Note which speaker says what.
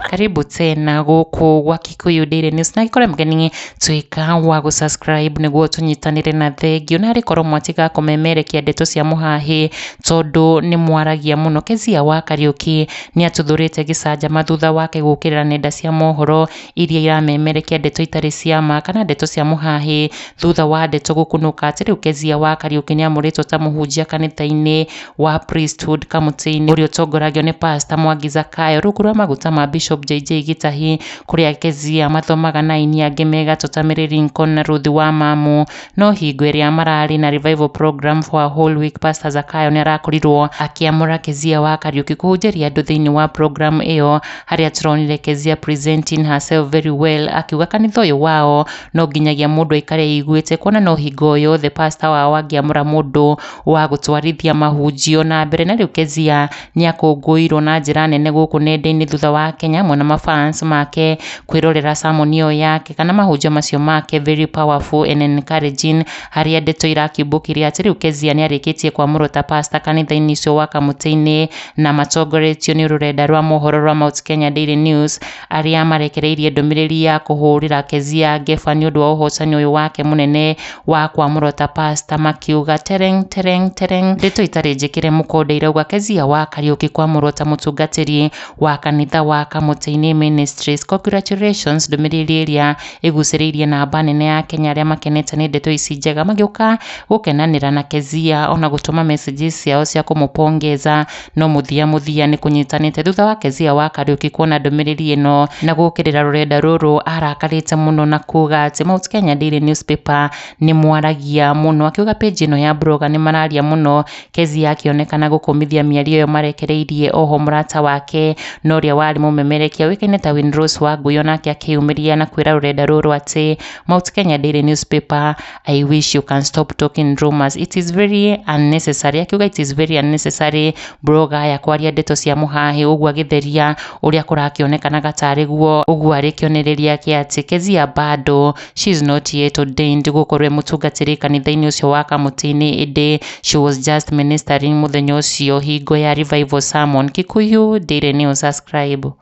Speaker 1: karibu tena gũkũ gwa kikuyu daily news na gĩkorwo mũgeni tuĩka wa gũsubscribe nĩguo tũnyitanĩre na thengio na harĩ korwo mwatiga kũmemerekia ndeto cia mũhahĩ tondũ nĩ mwaragia mũno kezia wa kariũki nĩ atũthũrĩte gĩcanjama thutha wake gũkĩrĩra nenda cia mohoro iria iramemerekia ndeto itarĩ cia ma kana ndeto cia mũhahĩ thutha wa ndeto gũkunũka atĩ rĩu Kezia wa Kariũki nĩ amũrĩtwo ta mũhunjia kanitha-inĩ wa Priesthood kamũtĩ-inĩ ũrĩa ũtongoragio nĩ Pastor Mwangi Zakayo rungu rwa maguta ma Bishop JJ Gĩtahi kũrĩa Kezia mathomaga na aini angĩ me gatũ ta Mary Lincoln na Ruth Wamamu. No hingo ĩrĩa mararĩ na revival program for a whole week Pastor Zakayo nĩ arakorirwo akĩamũra Kezia wa Kariuki kũhunjĩria andũ thĩinĩ wa program ĩyo harĩa tũronire Kezia presenting herself very well akiuga kanitha ũyũ wao no nginyagia mũndũ aikare eiguĩte kuona no hingo o yothe pastor wao angĩamũra mũndũ wa gũtwarithia mahunjio na mbere na rĩu Kezia nĩ akũngũĩirwo na njĩra nene gũkũ nenda-inĩ thutha wa Akenya amwe na ma fans make kwĩrorera sermon ĩyo yake kana mahunjio macio make very powerful and encouraging harĩa ndeto irakiumbũkirio atĩ rĩu Kezia nĩ arĩkĩtie kwamũrwo ta pastor kanitha-inĩ ũcio wa Kamũtĩ-inĩ na matongoretio nĩ rũrenda rwa mohoro rwa Mount Kenya Daily News. arĩa marekereirie ndũmĩrĩri ya kũhũrĩra Kezia Ngeba nĩ ũndũ wa ũhocani ũyũ wake mũnene wa kwamũrwo ta pasta makiuga tereng tereng tereng ndeto itarĩ njĩkĩre mũkonde irauga Kezia wa Kariũki kwamũrwo ta mũtungatĩri wa kanitha wa Kamũtĩ-inĩ Ministries. Congratulations ndũmĩrĩri ĩrĩa ĩgucĩrĩirie namba nene ya Kenya arĩa makenete nĩ ndeto ici njega magĩũka gũkenanĩra na Kezia ona gũtũma messages ciao cia kũmũpongeza. No mũthia mũthia nĩ kũnyitanĩte. Thutha wa Kezia wa Kariuki kuona ndũmĩrĩri ĩno na gũũkĩrĩra rũrenda rũrũ, aarakarĩte mũno na kuuga atĩ Mount Kenya Daily Newspaper nĩ mwaragia mũno. Akiuga page ĩno ya Broga nĩ mararia mũno. Kezia akĩonekana gũkũmithia mĩario ĩyo marekereirie oho mũrata wake na ũrĩa warĩ mũmemerekia ũĩkaine ta Winrose Wangũi, o nake akĩyumĩria na kwĩra rũrenda rũrũ atĩ Mount Kenya Daily Newspaper I wish you can stop talking rumors. It is very unnecessary. Akiuga it is very unnecessary bro gaya kwaria ndeto cia mũhahe ũguo agĩtheria ũrĩa kũrakĩonekanaga tarĩ guo ũguo arĩ kĩonereria kĩa atĩ Kezia bado she is not yet ordained gũkorwo mũtungatĩri kanitha-inĩ ũcio wa kamũtĩ-inĩ ĩndĩ she was just ministering mũthenya ũcio hingo ya revival sermon. Kikuyu Daily News subscribe.